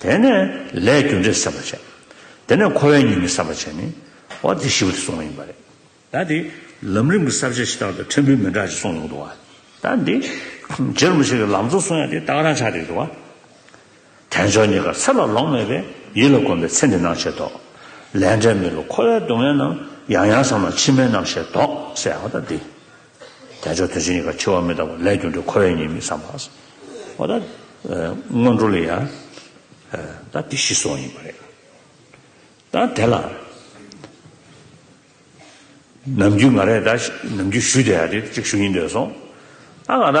དེ་ནས་ལས་རྒྱུ་འབྲས་བསམ་པར་བྱ། དེ་ནས་འཁོར་བའི་ཉེས་དམིགས་བསམ་པར་བྱས་ནས། འོ་དེ་བཞི་བོ་དེ་གསུངས་བ་ཡིན་པ་རེད། ད་འདི་ལམ་རིམ་གྱི་གསར་བརྗེ་ཕྱི་རྟགས་དང་ཕྲན་བུའི་མི་འདྲ་ཞིག་གསུངས་ཡོང་འདུག་བ། ད་འདི་རྗེ་རིན་པོ་ཆེ་གི་ལམ་གཙོ་གསུངས་ཡ་འདི་རྟགས་རང་ཆ་རེད་འདུག་བ། དལ་འབྱོར་གཉིས་ཀར་ཚེ་ལ་ལོངས་མེད་པས་ཡིད་ལ་གོམས་པའི་ཚེ་འདི་སྣང་བྱེད་དོ། ལས་འབྲས་མི་ལ་འཁོར་བའི་སྡུག་བསྔལ་རྣམས་ཡང་ཡང་བསམ་ན་ཕྱི་མའི་རྣམ་ཤེས་ལྡོག་སེ་ཨ་ད་འདི། རྒྱ་མཆོག་དོན་ཆེན་ཡི་ག་འཆི་བ་མི་རྟག་པ་ལས་གྱུར་འདི་ཁོ་བའི་ཉེས་དམིགས་བསམ་པ། ཨོ་ད། སྔོན་འགྲོ་ལས་ཡ། ད་སྡེ་བཞི་སོགས་ཡིན་པ་རེད། ད་དེ་ལ། ནམ་རྒྱུན་ང་རས་ད་ནམ་རྒྱུན་ཞུས་དེ་ཡ་དེ་གཅིག་ཞུ་ཡིན་འདོད་སོང། ཨ་ང་ད།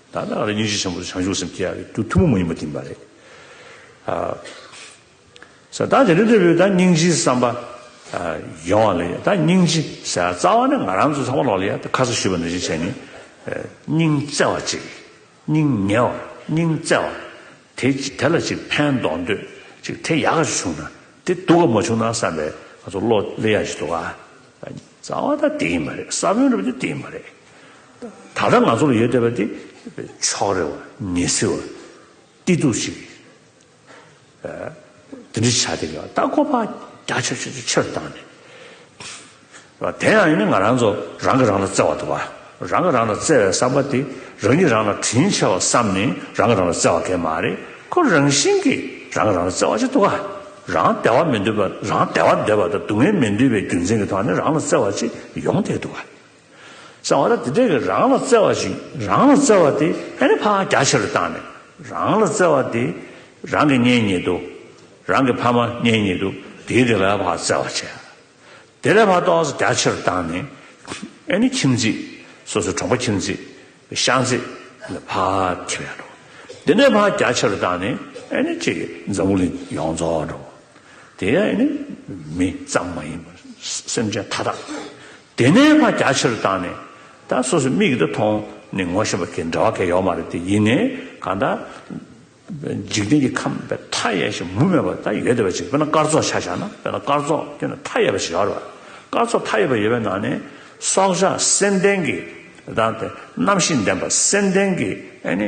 ད་ལྟ་ང་རང་སྙིང་རྗེ་ཆེན་པོ་དང་བྱང་ཆུབ་སེམས་བསྐྱེད་ཡག་ཡོད་དུས་ཐུན་མོང་མ་ཡིན་པ་བསྟིམས་པ་རེད། ས་བདག་དེ་འདྲ་འདྲ་བོས་ད་སྙིང་རྗེའི་བསམ་པ་ཡོང་བ་ལ་ཡང་ད་སྙིང་རྗེ་ཟེར་བ་རྩ་བ་ནས་ང་རང་ཚོ་ཚང་མ་ལོག་ལ་ཡང་ད་ཁ་ས་ཞུས་པ་འདྲ་བཞིན་བྱས་ནས་སྙིང་བརྩེ་བ་ཅིག་སྙིང་ཉེ་བ་སྙིང་བརྩེ་བ་དེ་ཅིག་དེ་ལ་ཅིག་ཕན་འདོགས་འདོད་ཅིག་དེ་ཡག་ཅིག་བྱུང་ན་དེ་སྡུག་ག་མ་བྱུང་ན་བསམ་པའི་ང་ཚོ་བློ་ལས་ཡག་ཅིག་འདུག་ག་རྩ་བ་ད་དེ་ཡིན་པ་རེད་ས་བོན་རུ་དེ་ཡིན་པ་རེད། ད་ལྟ་ང་ཚོར་ཡོད་བསྡད་པ་འདི་ཕྱོགས་རེ་བ་ཉེ་སྲི་བ་གཏི་ཐུག་ཅིག་རེད། འདི་འདྲི་བྱ་སྟེ་ལྟ་ཁོ་ཕག་རྒྱ་ཆོད་ཆོད་ཆོད་ཆེར་བཏང་ནས། དེ་ཡང་ཡིན་ན་ང་རང་ཚོ་རང་གིས་རང་ལ་བརྩེ་བ་འདུག་བ། རང་གིས་རང་ལ་བརྩེ་བའི་བསམ་པ་དེ་རང་ཉིད་རང་ལ་དྲིན་ཆེ་བར་བསམ་ནས་རང་གིས་རང་ལ་བརྩེ་བ་སྐྱེ་མ་རེད་ཁོ་རང་བཞིན་གྱིས་རང་གིས་རང་ལ་བརྩེ་བ་ཅིག་འདུག་བ། རང་བདེ་བ་མི་འདོད་པ་རང་བདེ་བ་འདོད་པ་དང་སྡུག་བསྔལ་མི་འདོད་པའི་རྒྱུ་མཚན་གྱི་ཐོག་ནས་རང་ལ་བརྩེ་བ་ཅིག་ཡོང་བསྡད་འདུག་བ། གསང་བ་དེ་དག་གིས་རང་ལ་བརྩེ་བ་ཞིག་རང་ལ་བརྩེ་བ་དེ་ཧད་ནས་ཕག་རྒྱ་ཆེ་རུ་བཏང་ནས་རང་ལ་བརྩེ་བ་དེ་རང་གི་གཉེན་ཉེ་དུ་རང་གི་ཕ་མ་གཉེན་ཉེ་དུ་དེའི་དེ་ལ་ཕག་བརྩེ་བ་ཆེ་དེ་ལ་ཕག་ཏོག་རྒྱ་ཆེ་རུ་བཏང་ནས་ཨེ་ནི་ཁྱིམ་མཚེས་སོ་སོའི་གྲོང་པ་ཁྱིམ་མཚེས་ཤང་མཚེས་ལ་ཕག་ཐི་བས་འགྲོ་དེ་ནས་ཕག་རྒྱ་ཆེ་རུ་བཏང་ནས་ཨེ་ནི་ཅེ་འཛམ་བུ་གླིང་ཡོངས་རྫོགས་འགྲོ་དེ་ཡང་ཨེ་ནི་མི་ཙམ་མ་ཡིན་པར་སེམས་ཅན་མཐའ་དག་དེ་ནས་ཕ་རྒྱ་ཆེ་རུ་བཏང་ནས། ད་སོ་སོའི་མིག་གིས་ད་མཐོང་ནས་ངོ་ཤེས་པ་གས་འདྲ་བ་གས་ཡོག་མ་རེད་དེ་ཡིན་ནས་གང་ད། འཇིག་རྟེན་གྱི་ཁམས་པའི་མཐའ་ཡས་ཤིག་མུ་མེད་པ་ད་ཡོད་བསྡད་པ་ཅིག་དཔེར་ན་སྐར་ཚོགས་ཆ་བཞག་ན་དཔེར་ན་སྐར་ཚོགས་ཀྱི་ནང་མཐའ་ཡས་པ་ཞིག་ཡོག་རེད་བ། སྐར་ཚོགས་མཐའ་ཡས་པ་ཡོད་པའི་ནང་ནས། སྲོག་ཆགས་སེམས་ལྡན་གྱི། རྣམ་ཤེས་ལྡན་པ་སེམས་ལྡན་གྱི་ཨེ་ནི།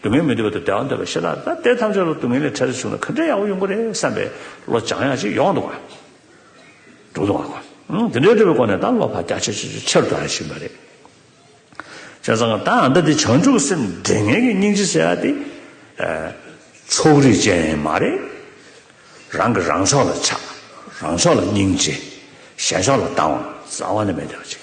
སྡུག་བསྔལ་མི་འདོད་པ་དང་བདེ་བ་འདོད་པའི་ཤེས་རྟགས་ལྟ་སྟེ་ཐམས་ཅད་ལ་སྡུག་བསྔལ་ལས་འཕྲལ་དུ་བྱུང་ན་གང་འདྲའི་ཡག་པོ་ཡོང་གི་རེད་བསམ་པའི་བློ་སྦྱང་ཡག་ཅིག་ཡོང་འདུག་བ། འགྲོ་འདུག་བ་ཀོ། འདི་འདྲའི་སྤྲོས་པའི་སྒོ་ནས་ད་བློ་བག་རྒྱ་ཆེ་ཆེ་ཆེ་ཆེ་རུ་འགྲོ་ཡང་ཞིག་མ་རེད། བྱས་ཙང་ད་ཨ་མདའ་འདི་བྱང་ཆུབ་སེམས་འགྲེལ་ངན་གྱི་སྙིང་རྗེ་ཟེར་བ་འདི། ཕྱོགས་རིས་ཅན་མ་རེད། རང་གི་རང་ཕྱོགས་ལ་ཆགས། རང་ཕྱོགས་ལ་སྙིང་རྗེ། གཞན་ཕྱོགས་ལ་སྡང་བ་རྩ་བ་ནས་མེད་བསྡད་པ་ཅིག།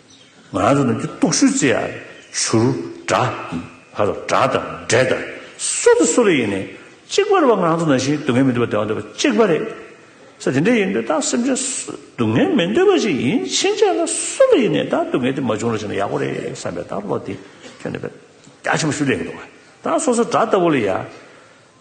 ང་རང་ཚོ་ནམ་རྒྱུན་རྟོག་ཞུ་རྩེ་ཡར་བཞུར། སྒྲ་དང་འབྲས་དང་སོ་དང་སོ་རེ་ཡིན། གཅིག་པ་རེད་བ་ང་རང་ཚོ་ནང་བཞིན་སྡུག་བསྔལ་མི་འདོད་པ་བདེ་བ་འདོད་པ་གཅིག་པ་རེད། ས་དེ་འདྲ་ཡིན་དུས་ད་སེམས་ཅན་སྡུག་བསྔལ་མི་འདོད་པ་ཞིག་ཡིན་ཕྱིན་ཆད་ལ་སུ་ལ་ཡིན་ནས་ད་སྡུག་བསྔལ་དེ་མ་བྱུང་རུང་བྱུང་ན་ཡག་པོ་རེད་བསམ་པའི་ད་བློ་དེ་ཁྱོན་ནས་རྒྱ་ཆེན་པོ་ཞུ་ལས་ཀྱི་འདུག་བ། ད་སོ་སོ་སྒྲ་ལྟ་བུ་ལ་ཡ།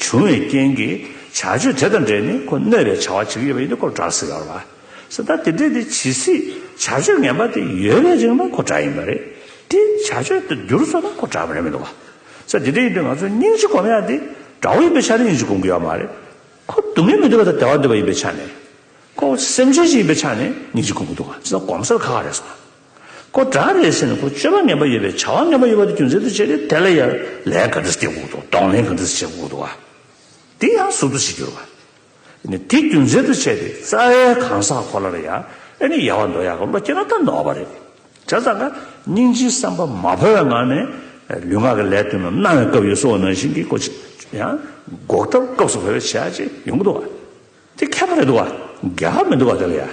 བྱུང་བའི་རྐྱེན་གྱིས་བྱ་སྤྱོད་དེ་དང་འབྲེལ་ནས་ཁོ་གནོད་པའི་བྱ་བ་བྱེད་ཀྱི་ཡོད་པ་ཡིན་ན་ཁོ་གྲྭ་ཟེར་བ་རེད། ད་དེ་འབྲེལ་དེ་ཇི་སྲིད་བྱ་སྤྱོད་ངན་པ་དེ་ཡོད་པའི་རིང་ལ་ཁོ་གྲྭ་ཡིན་པ་རེད། དེ་བྱ་སྤྱོད་དེ་བསྒྱུར་བཟོ་ན་ཁོ་གྲྭ་མ་རེད་མི་འདུག་ག། ད་དེ་འབྲེལ་ཡིན་དུས་ང་ཚོས་སྙིང་རྗེ་སྒོམ་ཡ་དེ་དགྲ་བོ་ཡིན་པའི་ཆ་ནས་སྙིང་རྗེ་སྒོམ་དགོས་ཡ་མ་རེད། ཁོ་སྡུག་བསྔལ་མི་འདོད་པ་དང་བདེ་བ་འདོད་པ་ཡིན་པའི་ཆ་ནས། ཁོ་སེམས་ཅན་ཞིག་ཡིན་པའི་ཆ་ནས་སྙིང་རྗེ་སྒོམ་གྱི་འདུག་ག་ཇི་ལྟར་གོམས་སར་ཁ་ཁ་རེད་སོང། ཁོ་གྲངས་རེད་ཟེར་ནས་ཁོ་སྤྱོད་པ་ངན་པ་ཡོད་པའི་བྱ་བ་ངན་པ་ཡོད་པ་དེ་རྒྱུ་མཚན་དུ་བྱས་ཏེ་དེ་ལ་ཡར་ལས་ག་འདྲ་སྟེར་དགོས་འདུག་གདོང་ལེན་ག་འདྲ་བྱེད་དགོས་འདུག་བ་དེ་ཡང་ཟུར་དུ་བྱེད་རྒྱུར་བ་ནི་དེ་རྒྱུ་མཚན་དུ་བྱས་ཏེ་རྩ་བའི་གང་ཟག་ཁོ་ལ་ལ་ཡར་ཨེ་ནི་ཡར་བ་འདོགས་ཡག་གི་བློ་སྐྱེ་ན་ད་འདོགས་པ་རེད། བྱ་ཙང་ཁ་སྙིང་རྗེའི་བསམ་པ་མ་ཕོ་བའི་ངང་ནས་ལུས་ངག་གི་ལས་དོན་རྣམས་གནང་བའི་སྐབས་ཡོད་སོ་ནང་བཞིན་གྱི་ཁོ་ཆེད་ཡང་འགོག་ཐབས་སྐབས་སུ་བོད་པའི་བྱ་བྱེད་ཡོང་གི་འདུག་བ་དེ་ཁེགས་པ་རེད་འདུག་བ་རྒྱག་མི་འདུག་བ་དེ་ལ་ཡར།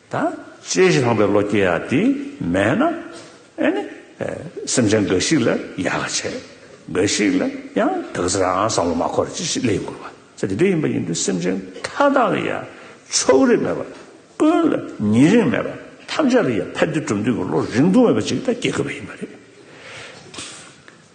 དང། ཅེས་བཞག་པའི་བློ་སྐྱེ་ཡག་དེ་མེད་ན། ཨེ་ནི། སེམས་ཅན་འགའ་ཞིག་ལ་ཡག་ལ་བྱས། འགའ་ཞིག་ལ་ཡང་དག་ཟེར་ཨང་བསམ་བློ་མ་འཁོར་བ་ཅི་ཞིག་ལས་འགོར་བ་ཚེ་འདི་འདྲ་ཡིན་པ་ཡིན་དུས་སེམས་ཅན་མཐའ་དག་ལ་ཡང་ཕྱོགས་རིས་མེད་པར། ཀུན་ལ་ཉེ་རིང་མེད་པར་ཐམས་ཅད་ལ་ཡང་ཕན་བདེ་གྲུབ་འདོད་ཀྱི་བློ་རིག་འདུ་མེད་པ་ཅིག་ད་སྐྱེ་དགོས་པ་ཡིན་པ་རེད།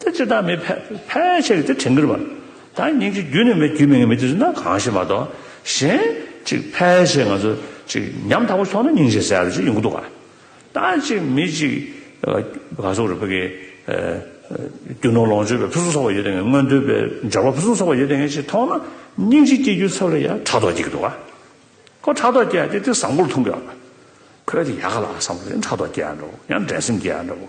དེ་ཅི་ལྟར་མི་ཕལ། ཕལ་ཆེར་གྱིས་དེ་བྲི་འགིར་བ། ད་སྙིང་རྗེ་རྒྱུད་ནི་མེད་རྒྱུད་མེད་ངེས་མེད་དུས་སུ་ན་གང་ཞེས་མ་གཏོགས། གཞན། ཅིག་ཕལ་ཆེར་ང་ཚོ། ཅིག་ཉམ་ཐག་པོ་ཆོག་ན་སྙིང་རྗེ་ཟེར་བ་ཅིག་ཡོང་གི་འདུག་ག། ད་ཅིག་མི་ཅིག། ག་སོག་རུ་ཕ་གི། རྒྱུ་ནོར་ལོངས་སྤྱོད་པའི་ཕུན་སུམ་ཚོགས་པ་ཡོད་ལྟ་ངན་སྔོན་འགྲོའི་པའི་འབྱོར་བ་ཕུན་སུམ་ཚོགས་པ་ཡོད་ལྟ་ངན་ཅིག་མཐོང་ན། སྙིང་རྗེ་སྐྱེ་རྒྱུའི་ཚབ་ལ་ཡང་ཕྲག་དོག་སྐྱེ་གི་འདུག་ག། ཁོ་ཕྲག་དོག་སྐྱེ་ཡ་སྐྱེ་དེ་བཟང་པོར་མཐོང་གི་ཡོད། ཁོས་དེ་ཡག་ག་ལ་བཟང་པོ་དེ་ཕྲག་དོག་སྐྱེ་ཡ་འདྲ་བོ་ཡང་འགྲན་སེམས་སྐྱེ་ཡ་འདྲ་བོ།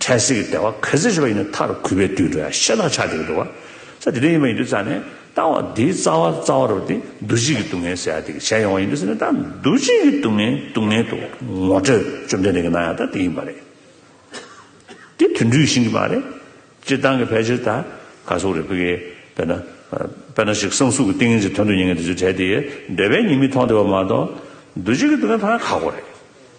འཕྲལ་སེལ་གྱི་ལྟེ་བ་གལ་ཆེ་ཤོས་ཡིན་ནོ་ཐར་གུས་པའི་དུས་འགྲོ་ཡང་ཤེས་རྟགས་ཆགས་འཇུག་གི་འདུ་བ། ས་དེ་དོན་ཡིན་པ་ཡིན་དུས་རྩ་ནས་བཏང་བ་དེའི་རྩ་བ་རྩ་བ་རུ་དེ་འདུ་བྱེད་ཀྱི་སྡུག་བསྔལ་ཟད་ཡ་དེ་གི་ཞལ་ཡོང་བ་ཡིན་དུས་ས་ནས་ད་འདུ་བྱེད་ཀྱི་སྡུག་བསྔལ་སྡུག་བསྔལ་དུ་ངོ་སྤྲོད་བཅོམ་ལྡན་འདས་ཀྱི་གནང་ཡ་ད་དེ་ཡིན་པ་རེད། དེ་དོན་འདུས་ཤིང་གི་མ་རེད། སྤྱིར་བཏང་གི་ཕལ་ཆེར་ད་ག་སོག་རེད་བོད་གི་དཔེར་ན། དཔེར་ན་ཞིག་གསང་གཟུགས་ཀྱི་ཏིང་ངེ་འཛིན་དོན་དུ་ཉེ་ངེས་དེ་ཚོའི་གྲས་དེ་འདོད་པའི་ཉེས་དམིགས་མཐོང་བདེ་བ་མ་གཏོགས། འདུ་བྱེད་ཀྱི་སྡུག་བསྔལ་ཐ་ན་ཁག་པོ་རེད།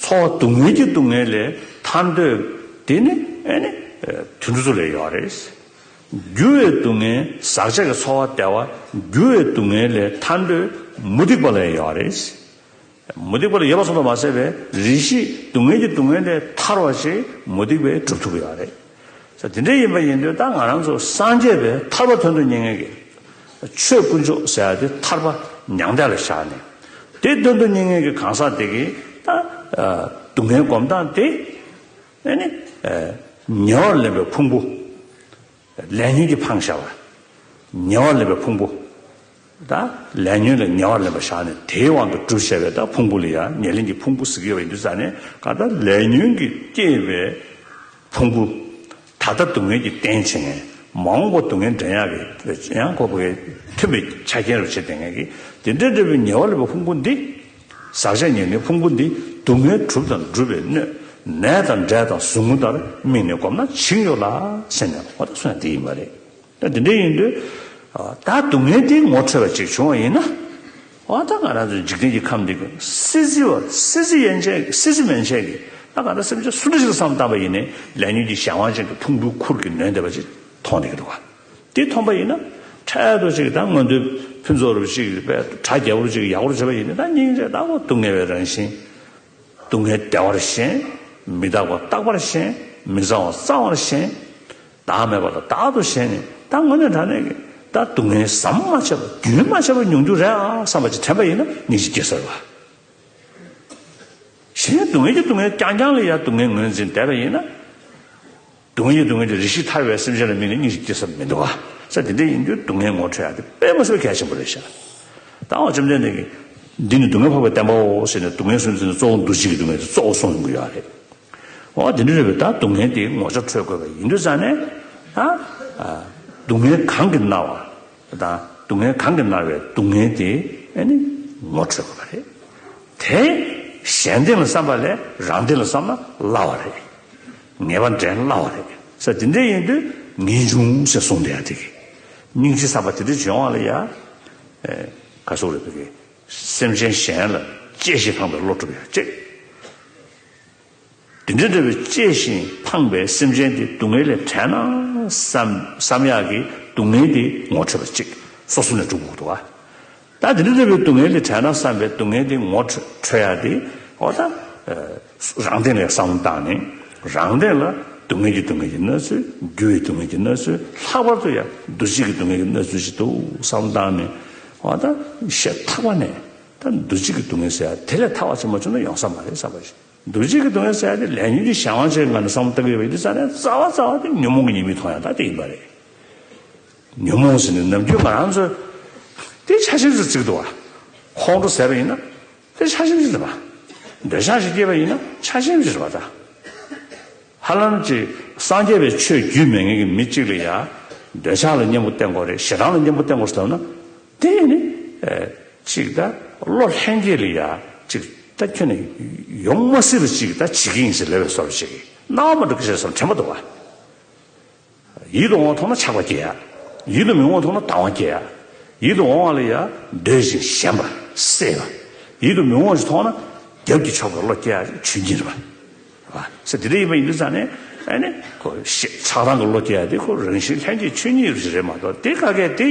འཚོ་བ་སྡུག་བསྔལ་གྱི་སྡུག་བསྔལ་ལས་ཐར་འདོད། དེ་ནི་དུས་འགྲོ་ཚུལ་ལས་ཡོད་རེད། འགྱུར་བའི་སྡུག་བསྔལ་ཟག་བཅས་ཀྱི་འཚོ་བ་བདེ་བ་འགྱུར་བའི་སྡུག་བསྔལ་ལས་ཐར་འདོད་མུ་སྟེགས་པ་ལས་ཡོད་རེད། མུ་སྟེགས་པ་ལས་ཡོད་པ་སོགས་དུ་མ་བསལ་བས་རིགས་བཞིས་སྡུག་བསྔལ་གྱི་སྡུག་བསྔལ་ལས་ཐར་བ་ཞིག་མུ་སྟེགས་པས་སྒྲུབ་ཐུབ་ཀྱི་ཡོད་རེད། ས་དེ་འདྲ་ཡིན་པ་ཡིན་དུས་ད་ང་རང་ཚོ་སངས་རྒྱས་པའི་ཐར་པ་དོན་དུ་གཉེར་མཁན་གྱི་ཆོས་དཀོན་མཆོག་ཟེར་བ་དེ་ཐར་པ་མྱང་འདས་ལ་བཞག་ནས། དེ་དོན་དུ་གཉེར་མཁན་གྱི་གང་ཟག་དེ་གིས་ད་སྡུག་བསྔལ་སྒོམ་སྟངས་དེ་ནི། ཉེ་བར་ལེན་པའི་ཕུང་པོ་ལས་ཉོན་གྱིས་འཕངས་བཞག་པ། ཉེ་བར་ལེན་པའི་ཕུང་པོ་དང། ལས་ཉོན་ལས་ཉེ་བར་ལེན་པར་བཞག་ནས་དེའི་དབང་དུ་བསྒྲུབ་བྱ་བའི་དང་ཕུང་པོ་ལས་ཡང་ཉེ་ལེན་གྱི་ཕུང་པོ་གཟུགས་དབྱེ་བ་ཡིན་དུ་བསམས་ནས་གང་ལྟར་ལས་ཉོན་གྱིས་བསྐྱེད་པའི་ཕུང་པོ། ད་ལྟ་སྡུག་བསྔལ་གྱི་རྟེན་བྱེད་ངེས། མ་འོངས་པ་སྡུག་བསྔལ་འདྲེན་ཡང་གྱི་ཡང་ཁོ་བོའི་མཐུན་པའི་ཆ་རྐྱེན་རུ་བྱེད་དེ་ངེས་ཀྱི། དེ་འདྲའི་འབྲས་བུའི་ཉེ་བར་ལེན་པའི་ཕུང་པོ་འདི། ཟག་བྱ་ཉེ་ལེན་ཕུང་པོ་འདི་སྡུག་བསྔལ་གྲུབ་དང་སྒྲུབ་པའི་སྣོད། ནད་དང་འབྲས་དང་ཟུག་རྔུ་ལྟར་དམིགས་ནས་བསྒོམས་ན་བྱིང་ཡོད་ལ་སེམས་ནི་ཧོ་ཐག་སོན་ན་དེ་ཡིན་པ་རེད། ད་དེ་འདྲ་ཡིན་དུས། ད་སྡུག་བསྔལ་དེའི་ངོ་འཕྲོད་པ་ཅིག་བྱུང་བ་ཡིན་ན། ཨོ་ད་ང་རང་ཚོའི་འཇིག་རྟེན་གྱི་ཁམས་འདི་ཀུན་སྲིད་རྩི་བ་སྲིད་རྩི་ཡན་ཆད་ཀྱིས་སྲིད་རྩི་མན་ཆད་ཀྱིས་ད་ག་འདྲ་སེམས་ཅན་སུ་འདྲ་ཞིག་ལ་བསམ་བཏང་བ་ཡིན་ནས་ལས་ཉོན་གྱི་གཞན་དབང་ཅན་གྱི་ཕུང་པོའི་ཁུར་གྱིས་ནོན་བསྡད་པ་ཅིག་མཐོང་བསྡད་ཀྱི་འདུག་ག་དེ་མཐོང་པ་ཡིན་ན། འཕྲལ་དུ་ཅིག་ད་སྔོན་དུས་ཕུན་ཚོགས་རབ་ཅིག་པས་དྲ་རྒྱ་བོར་ཅིག་ཡག་པོར་བྱས་པ་ཡིན་ནས་ད་སྙིང་རྗེ་ད་ཁོ་སྡུག་བསྔལ་བའི་རང་བཞིན། སྡུག་བསྔལ་བདེ་བར་ཞེན། མི་རྟག་པ་རྟག་པར་ཞེན། མི་གཙང་བ་གཙང་བར་ཞེན། བདག་མེད་པ་ལ་བདག་ཏུ་ཞེན་ནས་བདག་དངོས་གནས་དྲང་གནས་ཀྱི་བདག་སྡུག་བསྔལ་ཟམ་མ་ཆད་པ་རྒྱུན་མ་ཆད་པར་མྱོང་རྒྱུ་རེད་ཨང་བསམ་པ་ཅིག་དྲན་པ་ཡིན་ན་ངེད་ཅིག་སྐྱེ་ས་རེད། གཞན་སྡུག་བསྔལ་གྱི་སྡུག་བསྔལ་རྐྱང་རྐྱང་ལ་ཡང་སྡུག་བསྔལ་ངོས་འཛིན་བསྡད་པ་ཡིན་ན། སྡུག་བསྔལ་སྡུག་བསྔལ་གྱི་རིགས་ཤིག་ཐར་བའི་སེམས་ཅན་ལ་མིག་ནས་སྙིང་ཞིག་སྐྱེ་ས་མི་འདུག་ག་ས་དེ་འདྲའི་ཡིན་དུས་སྡུག་བསྔལ་ངོ་འཕྲོད་ཡག་དེ་དཔེ་མ་བཟོད་གལ་ཆེན་པོ་རེད་ཤག་ད་འོ་བཅོམ་ལྡན་འདས་ཀྱིས། འདི་ནི་སྡུག་བསྔལ་འཕགས་པའི་བསྟན་པའོ་ཟེར་ནས་སྡུག་བསྔལ་སུན་འབྱིན་ནི་གཙོ་བོ་འདུ་བྱེད་ཀྱི་སྡུག་བསྔལ་དེ་གཙོ་བོ་གསུངས་ཡོང་གི་ཡོད་རེད། འོ་དེ་འདྲ་རེད་བས་ད་སྡུག་བསྔལ་དེའི་ངོ་ཚབ་འཕྲོད་དགོས་པ་ཡིན་དུས་ཙང་ནས། ཧ། སྡུག་བསྔལ་གང་གིས་མནར་བ་དང་སྡུག་བསྔལ་གང་གིས་མནར་བའི་སྡུག་བསྔལ་དེ་ནི་ངོ་འཕྲོད་དགོས་པ་རེད། དེ། གཞན་སྡེ་ལ་བསམ་པ་ལས་རང་སྡེ་ལ་བསམ་ན་སླ་བ་རེད། ངེས་པ་འདྲེན་སླ་བ་རེད། ས་དེ་འདྲའི་ཡིན་དུས་ངེས་འབྱུང་ཞེས་གསུངས་འདི་ཡང་དེ་གི། སྙིང་རྗེ་ས་པ་དེ་འདྲའི་བྱོན་དབང་ལ་ཡང། ག་སོགས་རེད་དེ་གི། སེམས་ཅན་གཞན་ལ་གཅེས་ཤིང་འཕངས་པའི་བློ་གྲུབ་ཡང་གཅེས། དེ་འདྲ་འདྲ་བའི་གཅེས་ཤིང་འཕངས་པའི་སེམས་ཅན་དེ་སྡུག་བསྔལ་ལས་བྲལ་ན། བསམ་ཡག་གི་སྡུག་བསྔལ་དེ་ངོ་འཕྲོད་པ་གཅིག་སོ་སོ་ནས་གྲུབ་འོག་ཏུ་བ། ད་དེ་འདྲ་བའི་སྡུག་བསྔལ་དེ་བྲལ་ན་བསམ་པའི་སྡུག་བསྔལ་དེ་ངོ་འཕྲོད་ཡ་དེ། ཨོ་ད། རང་སྟེང་ལས་བསམ་བློ་བཏང་ནས་རང་སྟེང་ལ་སྡུག་བསྔལ་གྱི་སྡུག་བསྔལ་གྱི་གནས་ཚུལ་རྒྱུ་བའི་སྡུག་བསྔལ་གྱི་གནས་ཚུལ་ལྷག་པར་དུ་ཡང་འདུ་བྱེད་ཀྱི་སྡུག་བསྔལ་གྱི་གནས་ཚུལ་ཞིག་འདུག་བསམ་བློ་བཏང་ནས། ཨོ་ད། ཞེས་ཐག་པ་ནས། ད་འདུ་བྱེད་ཀྱི་སྡུག་བསྔལ་ཟེར་ཡ་དེ་ལས་ཐར་བ་ཆེན་པོ་བྱུང་ན་ཡོང་ས་མ་རེད་བསམ་པ་ཞིག་འདུ་བྱེད་ཀྱི་སྡུག་བསྔལ་ཟེར་ཡ་དེ་ལས་ཉོན་གྱི་གཞན་དབང་ཆེད་ངང་ནས་བསམ་བློ་བཏང་གི་ཡོད་པ་ཡིན་དེ་རྩ་ནས་རྩ་བ་རྩ་བ་དེ་ཉོན་མོངས་ཀྱི་ཉེས་དམིགས་མཐོང་ཡ་ད་དེ་ཡིན་པ་རེད། ཉོན་མོངས་ཟིན་པའི་ནམ་རྒྱུན་ང་རང་ཚོས་དེའི་ཆ་ཤིང་ཞིག་བརྩིག་འདུག་ཨ། ཁོང་ཁྲོ་ཟད་པ་ཡིན་ན་དེར་ཆ་ཤིང་ཞིག་འདྲི་བ། འདོད་ཆགས་ཤིག་སྐྱེས་པ་ཡིན་ན་ཆ་ཤིང་ཞིག་རི་བ། ད་ཧ་ལམ་གྱི་སངས་རྒྱས་པའི་ཆོས་བརྒྱུད་མི་ངན་གྱི་མི་གཅིག་ལ་ཡང་འདོད་ཆགས་ལ་གཉེན་པོ་བསྟེན་དགོས་རེད་ཞེ་སྡང་ལ་གཉེན་པོ་བསྟེན་དགོས་ཟེར་ན། དེ་ནི་གཅིག་ད་བློ་ལྷན་སྐྱེས་ལ་ཡང་གཅིག་ད་ཁྱོད་ནས་ཡོང་མ་སྲིད་པ་ཅིག་ད་བྱེད་ཀྱི་ཡིན་ཟེར་ལེ་བའི་སོར་བཞེས་ཀྱིས་སྣང་བ་མ་འགྲོ་གི་ཞེས་སོར་ཕྲན་པོ་འདུག་ཨ། ཡིད་དུ་འོང་བ་ཐོབ་ན་ཆགས་པ་སྐྱེ། ཡིད་དུ་མི་འོང་བ་ཐོབ་ན་ལྟ་བ་སྐྱེ། ཡིད་དུ་འོང་བ་ལ་ཡང་འདོད་ཅིང་ཞེན་པ་སྲེད། ཡིད་དུ་མི་འོང་བ་ཞིག་མཐོང་ན་རྒྱབ་ཀྱི་ཕྱོགས་ཀྱི་བློ་སྐྱེ་བ་ཆུ་འཛིན་རེད། ས་དེ་འདྲ་ཡིན་པ་ཡིན་དུས་ཙང་ནས་ནི། ཆགས་སྡང་གི་བློ་སྐྱེ་བ་དེ་ཁོ་རང་བཞིན་ལྷན་སྐྱེས་ཆོས་ཉིད་ཞིག་རེད་མ་གཏོགས་དེ་ཀ་གས་དེ།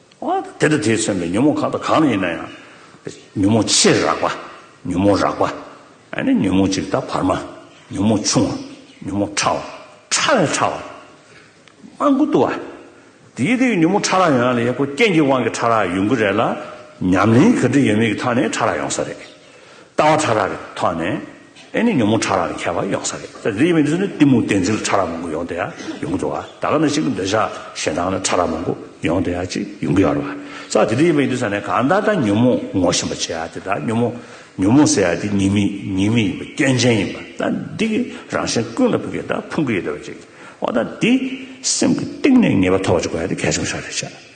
དེ་དང་དེས་མཚོན་པའི་ཉོན་མོངས་གང་དང་གང་ཡིན་ན་ཡང། ཉོན་མོངས་ཆེ་རགས་པ། ཉོན་མོངས་རགས་པ། ཉོན་མོངས་གཅིག་དང་བར་མ། ཉོན་མོངས་ཆུང་བ། ཉོན་མོངས་ཕྲ་བ། ཕྲ་བའི་ཕྲ་བ། སྤང་ཀུན་ཏུ་བ། དེའི་དེའི་ཉོན་མོངས་ཕྲ་རགས་ཡོང་ཡ་ལ་ཡང་སྐུ་རྐྱེན་གྱི་དབང་གིས་ཕྲ་རགས་ཡོང་གི་རེད་ལ། ཉམས་ལེན་ག་འདྲི་ཡོད་མེད་ཀྱི་ཐག་ནས་ཕྲ་རགས་ཡོང་ས་རེད། ལྟ་བ་ཕྲ་རགས་ཀྱི་ཐོག་ནས་ཨེ་ནི་ཉོན་མོངས་ཕྲ་རགས་ཀྱི་ཁྱད་པར་ཡོང་ས་རེད་ད་དེ་ཡིན་མིན་དེ་ནི་གཏི་མུག་གཏན་ཚིགས་ལ་ཕྲ་རགས་མང་པོ་ཡོང་དེ་ཡང་ཡོང་གི་འགྲོ་བ་ད་ག་ནས་ཅིག་གི་འདོད་ཆགས་ཞེ་སྡང་ལ་ཕྲ་རགས་མང་པོ་ཡོང་དེ་ཡང་ཅིག་ཡོང་གི་ཡོད་རེད་བ་ད་དེ་དེ་ཡིན་མིན་དེ་ས་ནས་གང་ལྟར་ད་ཉོན་མོངས་ངོ་ཤེས་པ་བྱེད་ཡ་དེ་ད་ཉོན་མོངས་ཉོན་མོངས་ཟེར་ཡ་དེ་ཉེས་མིང་ཉེས་མིང་ཡིན་པ་སྐྱོན་ཅན་ཡིན་པ་ད་འདི་གི་རང་བཞིན་ཀུན་ལ་ཕུག་གི་ད་ཕུང་གི་ཡོད་དེ་བ་ཅིག་འོ་ད་འདི་སེམས་ཀྱི་གཏིང་ནས་ངེས་པ་ཐོབ་པ་ཅིག་དགོས་ཡ་དེ་གལ་ཆེན་པོ་ཞག་རེད་བྱ།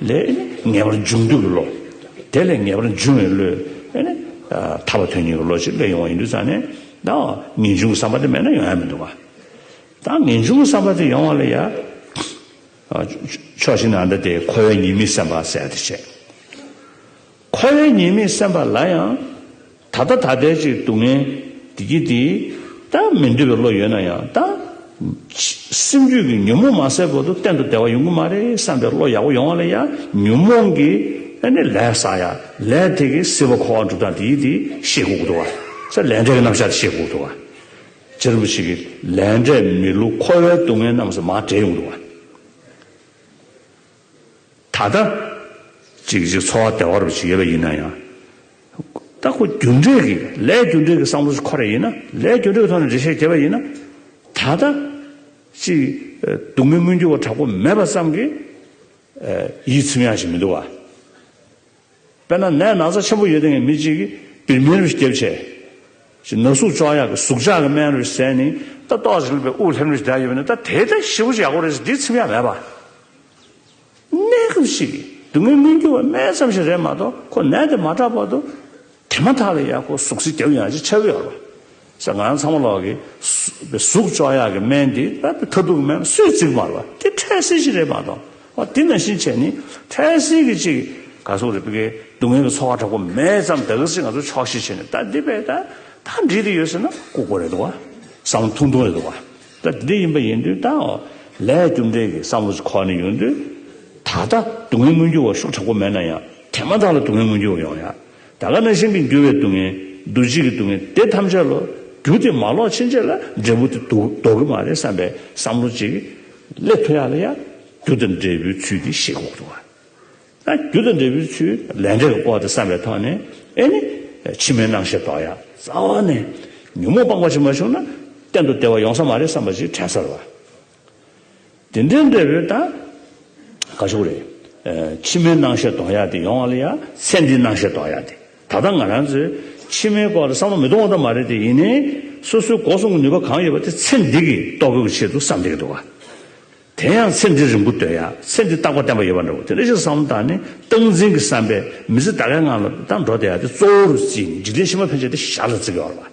ལས། ངེས་པར་འབྱུང་འདོད་ཀྱི་བློ། དེ་ལས་ངེས་པར་འབྱུང་བའི་བློས། ཐར་བ་དོན་གཉེར་གྱི་བློ་ཅིག་ལས་ཡོང་བ་ཡིན་དུས་ཙམ་ནས། དང། ངེས་འབྱུང་གི་བསམ་པ་དེ་མེད་ན་ཡོང་ཡ་མི་འདུག་ག། དང། ངེས་འབྱུང་གི་བསམ་པ་དེ་ཡོང་བ་ལ་ཡ། ཕྱོགས་གཅིག་ན་འདི་དེ་ཁོ་བོའི་ཉེས་དམིགས་སེམས་པ་གསལ་དུ་བྱེད། འཁོར་བའི་ཉེས་དམིགས་སེམས་པ་ལ་ཡང། ད་ལྟ་ད་ལྟའི་ཅིག་སྡུག་བསྔལ་འདི་གྱིས་འདི། ད་མི་འདོད་པའི་བློ་ཡོད་ན་ཡང་ད། སེམས་རྒྱུད་ཀྱི་ཉོན་མོངས་མ་སེལ་བར་དུ་གཏན་དུ་བདེ་བ་ཡོང་གི་མ་རེད་བསམ་པའི་བློ་ཡག་པོ་ཡོང་བ་ལ་ཡང་ཉོན་མོངས་ཀྱི། ནི་ལས་བསགས་ཡ། ལས་དེ་གི་སྲིད་པ་འཁོར་བ་འགྲུབ་སྟངས་འདི་གྱིས་འདི་ཤེས་དགོས་ཐུག་བ། སེ་ལས་འབྲས་ཀྱི་རྣམ་གཞག་འདི་ཤེས་དགོས་ཐུག་བ། ཇེ་རིང་པོ་ཞིག་གིས་ལས་འབྲས་མི་བསླུ་འཁོར་བའི་སྡུག་བསྔལ་རྣམས་སུ་མ་བྲལ་ཡོང་དུ་བ། ད་ལྟ། གཅིག་གཅིག་འཚོ་བ་བདེ་བ་རུ་ཞིག་ཡོད་པ་ཡིན་ན་ཡང། ད་ཁོ་རྒྱུ་འབྲས་ཀྱི་ལས་རྒྱུ་འབྲས་ཀྱི་བསམ་བློ་ཞིག་འཁོར་རེ་ཡིན་ན། ལས་རྒྱུ་འབྲས་ཀྱི་ཐོག་ནས་འགྲེལ་བཤད་བྱེད་པ་ཡིན་ན། ད་ལྟ། ཅིག་སྡུག་མི་སྔོན་འགྱུར་བ་དྲག་པོ་མེད་པ་ཙམ་གྱིས། ཡིད་ཚིམ་ཡ་ཞིག་མི་འདུག་བ། དཔེར་ན་ནད་ན་ཚ་ཆེན་པོ་ཡོད་ངེས་མི་གཅིག་གིས་བིར་མིར་བཞི་སྐྱེབས་བྱས། ཞེས་ན་ཟུག་ཅོག་ཡག་གི་ཟུག་ཅག་གི་སྨན་རིས་ཟད་ནས་ད་ཏོག་ཅིག་ལུས་པའི་དབུགས་ལྷེམ་རིས་བརྒྱ་ཡོད་པ་ནི་ད་དེའི་ཐད་ཤི་བོ་ཅིག་ཡག་པོ་རེད་ཟེར་དེའི་ཚིམ་ཡག་མེད་པ། ནད་སྐྱོབ་ཅིག་གིས་སྡུག་བསྔལ་སྨིན་རྒྱུ་བ་སྨན་ཙམ་ཞིག་རེད་མ་གཏོགས་ཁོ་ནད་དེ་མ་དྲག་པར་དུ་དེ་མ་ཐག་ལ་ཡག་གོ་ཟུག་ཟིག་བརྒྱབ་ཡང་ཅིག་ཆ་བོ་ཡག་རོ། ཟེར། ང་རང་ཚང་མ་ལོག་གིས། ཟུག་ཅོག་ཡག་གི་སྨན་འདི་རྦད་དེ་ཐ་དུག་སྨན་སུས་བརྩིགས་མ་རེད་པ་དེ་འཕྲལ་སེལ་ཞིག་རེད་མ་གཏོགས་བ་དེ་ནང་བཞིན་བྱས་ནི་འཕྲལ་སེལ་གི་ཅིག་ག་ཟུག་རེད་པ་གི་སྡུག་བསྔལ་གི་ཚོར་བ་དྲག་པོ་མེད་ཙམ་ད་གི་ཟིག་ང་ཚོ་ཆོག་ཤེས་བྱས་ནི་ད་འདི་བས་ད་ད་འདྲིས་དེ་ཡོད་ཟེར་ན་ལྐུགས་པ་རེད་འདུག་བ་བསམ་བློ་ཐུང་ཐུང་རེད་འདུག་བ་ད་འདི་འདྲ་ཡིན་པ་ཡིན་དུས་ད་འོ་ལས་རྒྱུ་འབྲས་ཀྱི་བསམ་བློ་ཅིག་ཁོག་ནས་ཡོང་དུས་ད་ལྟ་སྡུག་བསྔལ་མངོན་གྱུར་བ་ཤུགས་དྲག་པོ་མེད་ན་ཡང་དེ་མ་ཐག་ལ་སྡུག་བསྔལ་མངོན་གྱུར་བ་ཡོང་ཡ་ད་ལྟ་ན་གཞན་གྱི་འགྱུར་བའི་སྡུག་བསྔལ། འདུ་བྱེད་ཀྱི་སྡུག་བསྔལ་དེ་ཐམས་ཅད་ལོ། རྒྱུ་དེ་མ་ལོག་ཕྱིན་ཆད་ལ་འབྲས་བུ་དེ་ལྡོག་གི་མ་རེད་བསམ་པའི་བསམ་བློ་གཅིག་གིས། སླད་ཐོ་ཡག་ལ་ཡང་རྒྱུ་དང་འབྲས་བུའི་ཚུལ་འདི་ཤེས་དགོས་ཐུག་ཨང། རྒྱུ་དང་འབྲས་བུའི་ཚུལ་ལས་འབྲས་ཀྱི་སྐོར་དེ་བསམ་པའི་ཐོག་ནས་ཨེ་ནི། ཕྱི་མའི་རྣམ་ཤེས་ལྡོག་ཡ། རྩ་བ་ནས། ཉོན་མོངས་སྤངས་པ་ཅིག་མ་བྱུང་ན། གཏན་དུ་བདེ་བ་ཡོང་ས་མ་རེད་བསམ་པ་ཅིག་དྲན་སར་བ། དེ་འདྲའི་འབྲས་བུ་དང། དགའ་ཕྱོགས་རེད། ཕྱི་མའི་སྣང་ཤས་གཏོང་ཡག་དེ་ཡོང་བ་ལ་ཡང་ཚེ་འདིའི་སྣང་ཤས་གཏོང་ཡག་དེ། ད་ལྟ་ང་རང་ཚོས་ཕྱི་མའི་སྐོར་ལ་བསམ་བློ་མི་གཏོང་བ་ཙམ་མ་རེད་དེ་ཡིན་ནའི། སོ་སོའི་འགོག་སྲུང་གི་ནུས་པ་གང་ཡོད་པ་དེ་ཚེ་འདི་གི་ལྟོ་གོས་ཀྱི་ཆེད་དུ་བསམ་བསྡད་ཀྱི་འདུག་ག། དེ་ཡང་ཚེ་འདིར་རིང་པོ་སྡོད་ཡག་ཚེ་འདི་རྟག་པར་བརྟན་པ་ཡོད་པ་འདྲ་བོ་དེ་འདྲ་ཞིག་བསམ་བློ་བཏང་ནས་སྟངས་འཛིན་གྱི་བསམ་པས་མི་ཚེ་ད་གའི་ངང་ལ་ཏང་འགྲོ་བསྡད་ཡག་དེ་གཙོ་བོར་བརྩིས་ནས་འཇིག་རྟེན་ཕྱི་མ་ཕན་ཆད་དེ་ཞར་ལ་བརྩི་དགོས་པ་རེད།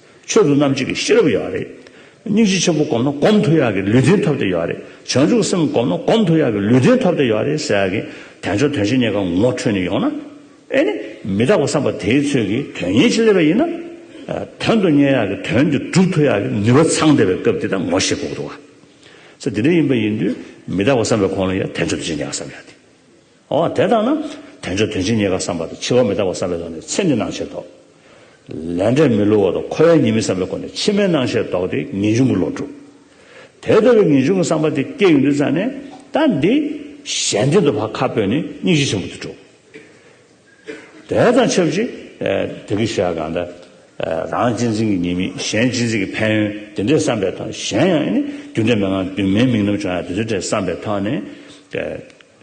ཆོས་དུ་རྣམ་འབྱེད་ཀྱི་ཤེས་རབ་ཡོད་པ་རེད། སྙིང་རྗེ་ཆེན་པོ་བསྒོམ་ན་སྒོམ་དུ་ཡག་གི་ལུས་རྟེན་ཐོབ་སྟེ་ཡོད་པ་རེད། བྱང་ཆུབ་སེམས་བསྒོམ་ན་སྒོམ་དུ་ཡག་གི་ལུས་རྟེན་ཐོབ་སྟེ་ཡོད་པ་རེད་ཟེར་ཡག་གི། དལ་འབྱོར་དོན་ཆེན་གཉིས་ཀ་ངོ་འཕྲོད་ནས་ཡོང་ན། ཨེ་ནི། མི་རྟག་པ་བསམ་པ་དེའི་ཚོད་ཀྱིས་དོན་གཉེར་ཅི་སླེབས་པ་ཡིན་ན། དོན་དུ་གཉེར་ཡག་གི་དོན་དེ་སྒྲུབ་ཐུབ་ཡག་གི་ནུས་པ་ཚང་བསྡད་པའི་སྐབས་དེ་དང་ངོ་ཤེས་ཕོག་འདུག་ག། ཚེ་འདི་འདྲ་ཡིན་པ་ཡིན་དུས་མི་རྟག་པ་བསམ་པའི་གོང་ལ་ཡང་དལ་འབྱོར་དོན་ཆེན་གཉིས་ཀ་བསམ་ཡག་དེ། འོ་དེ་ལྟ་ན། དལ་འབྱོར་དོན་ཆེན་རྙེད་དཀའ་བསམ་པ་དང་འཆི་བ་མི་རྟག་པ་བསམ་པའི་ཐོག་ནས་ཚེ་འདི་སྣང་ཤེར་དོགས། ལས་འབྲས་མི་བསླུ་བ་དང་འཁོར་བའི་ཉེས་དམིགས་བསམ་པའི་སྒོ་ནས་ཕྱི་མའི་སྣང་ཤེར་དོགས་ཏེ་ངེས་འབྱུང་གི་བློ་གྲུབ། དེ་ལྟ་བུའི་ངེས་འབྱུང་གི་བསམ་པ་དེ་སྐྱེ་ཡོང་དུས་ཙམ་ནས། ད་འདི། གཞན་བརྟེན་དུ་བག་ཁ་སྤོས་ནས་སྙིང་རྗེ་ཆེན་པོ་དུ་གྲུབ། དེ་དང་ཆབས་ཅིག། དེ་གི་ཞེས་གང་ལྟར། རང་གཅེས་འཛིན་གྱི་ཉེས་དམིགས་གཞན་གཅེས་འཛིན་གྱི་ཕན་ཡོན་དེ་འདྲའི་བསམ་པའི་ཐོག་ནས་གཞན་ཡང་ནི། རྒྱུ་འབྲས་མན་ངག་འདུན་མའི་དམིགས་རྣམ་བྱུང་ཡང་དེ་ཚོའི་གྲས་བསམ་པའི་ཐོག་ནས།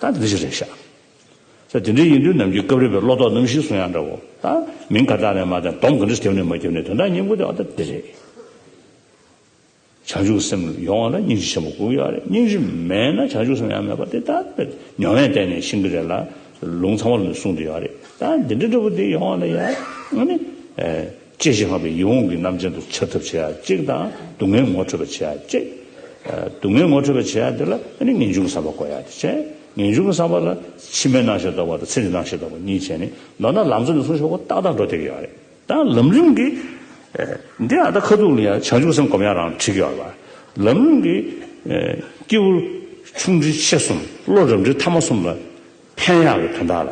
ད་འདི་ཅི་རེད་ཤག། ས་དེ་འདྲའི་ཡིན་དུས་ནམ་གྱི་སྐབས་རེད་པའི་བློ་ལྡོག་རྣམ་བཞིའི་གསུང་དབྱངས་འདྲ་བོ། ད་མིང་ག་དག་ནས་མ་བསྟན་སྡོམ་ག་འདྲ་ཁེབས་ནས་མ་ཁེབས་ནས་དོན་དག་སྙིང་པོ་དེ་འོ་ད་འདི་རེད། བྱང་ཆུབ་སེམས་ཡོང་བ་ལ་སྙིང་རྗེ་ཆེན་པོ་དགོས་ཀྱི་ཡོད་རེད་སྙིང་རྗེ་མེད་ན་བྱང་ཆུབ་སེམས་ཡང་མེད་པ་དེ་ད་དཔེར་ཉོ་བས་བསྟན་ནས་ཤིང་གི་རས་ལ་ལུང་ཚང་བ་ལ་ནི་གསུང་དེ་ཡོད་རེད་ད་འདི་འདྲ་འདྲ་བོ་དེ་ཡོང་བ་ལ་ཡང་ཨ་ནི། གཅེས་ཤིང་བསྔགས་པའི་ཡིད་འོང་གི་རྣམ་ཅན་དུ་འཆར་ཐབས་བྱེད་ཡ་གཅིག་དང་སྡུག་བསྔལ་ངོ་འཕྲོད་པར་བྱེད་ཡ་གཅིག། སྡུག་བསྔལ་ངོ་འཕྲོད་པར་བྱེད་ཡ་དེ་ལ་ནི་ངེས་འབྱུང་གི་བསམ་པ་བསྐོ་ཡ་དེ་བྱས། ངེས་འབྱུང་གི་བསམ་པ་ལ་ཕྱི་མའི་སྣང་ཞེས་འདོགས་པ་དང་ཚེ་འདིའི་སྣང་ཞེས་འདོགས་པ་གཉིས་བྱས་ནས་མདོར་ན་ལམ་གཙོ་ནས་གསུང་ཞོག་གོ་ཏག་ཏག་འགྲོ་བསྡད་ཀྱི་ཡོད་རེད་ད། ལམ་རིམ་གྱི། འདི་ཨ་ད་ཁ་ཐུག་ལ་ཡང་བྱང་ཆུབ་སེམས་བསྒོམ་ཡ་རང་འཁྲིག་གི་ཡོད་རེད་པ། ལམ་རིམ་གྱི། སྐྱེས་བུ་ཆུང་འབྲིང་ཆེ་གསུམ་བློ་རབ་འབྲིང་ཐ་མ་གསུམ་ལ། ཕན་ཡག་གི་དོན་དག་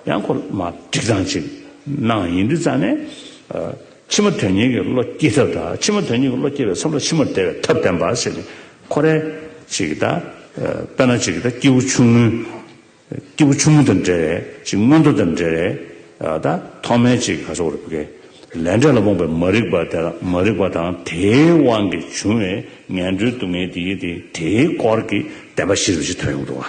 ལ་ཡང་ཁོ་མ་སྒྲིག་སྟངས་གཅིག་གནང་ཡིན་དུས་རྩ་ནས། ཕྱི་མ་དོན་གཉེར་གྱི་བློ་སྐྱེས་ཐབས་དང་ཕྱི་མ་དོན་གཉེར་གྱི་བློ་སྐྱེས་པའི་མཚམས་ལ་ཕྱི་མར་བདེ་བའི་ཐབས་བསྟན་པ་ཞེས་ནི་ཁོ་རེ་ཞིག་གིས་ད། དཔེར་ན་ཅིག་གིས་ད་སྐྱེས་བུ་ཆུང་ངུ། སྐྱེས་བུ་ཆུང་ངུ་དང་འབྲེལ་བའི་ཅིག་མངོན་མཐོ་དང་འབྲེལ་བའི་ད་ཐོག་མའི་ཅིག་ག་སོགས་རིགས་པའི་ལས་འབྲས་ལ་རྨོངས་པའི་མ་རིག་པ་དེ་དག་མ་རིག་པ་དང་དེའི་དབང་གིས་བྱུང་བའི་ངན་འགྲོའི་སྡུག་བསྔལ་དེའི་དེའི་སྐོར་གྱི་བདེན་པ་གཞི་རིམ་ཞིག་ཐོན་ཡོང་གི་འདུག་ཨ།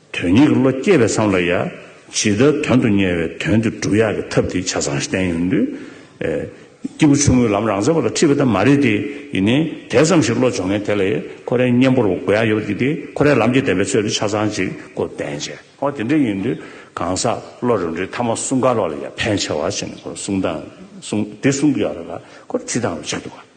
དོན་སྙིང་གི་བློ་སྐྱེས་པའི་བསམ་བློ་ཡ། ཇི་ལྟར་དོན་དུ་གཉེར་བའི་དོན་དེ་སྒྲུབ་ཡག་གི་ཐབས་དེ་ཆ་ཚང་བསྟན་ཡོད་དུས། སྐྱེས་བུ་ཆུང་ངུའི་ལམ་རང་བཙན་པོ་ལ་འཁྲིད་པ་དེ་མ་རེད་དེ། ཡིན་ནའི་དེ་ཙམ་ཞིག་བློ་སྦྱོང་མཁན་དེ་ལས་ཁོ་རའི་གཉེན་པོར་དགོས་ཡ་ཡོད་པ་དེ་དེ་ཁོ་རའི་ལམ་གྱི་བདེན་པའི་ཚོད་དེ་ཆ་ཚང་ཅིག་གོ་བསྟན་བྱས། ཨོ་དེ་འདྲ་ཡིན་དུས་གང་ཟག་བློ་རིམ་གྲོའི་མཐའ་མ་གསུངས་ཀ་རོགས་ལ་ཡ་ཕན་ཆེ་བ་བྱས་ནས་ཁོ་ར་གསུངས་དང་གསུངས་དེ་གསུངས་ཀ་རོགས་ལ་ཁོ་ར་ཁྲིད་དང་རོགས་བྱས་འདུག་ག།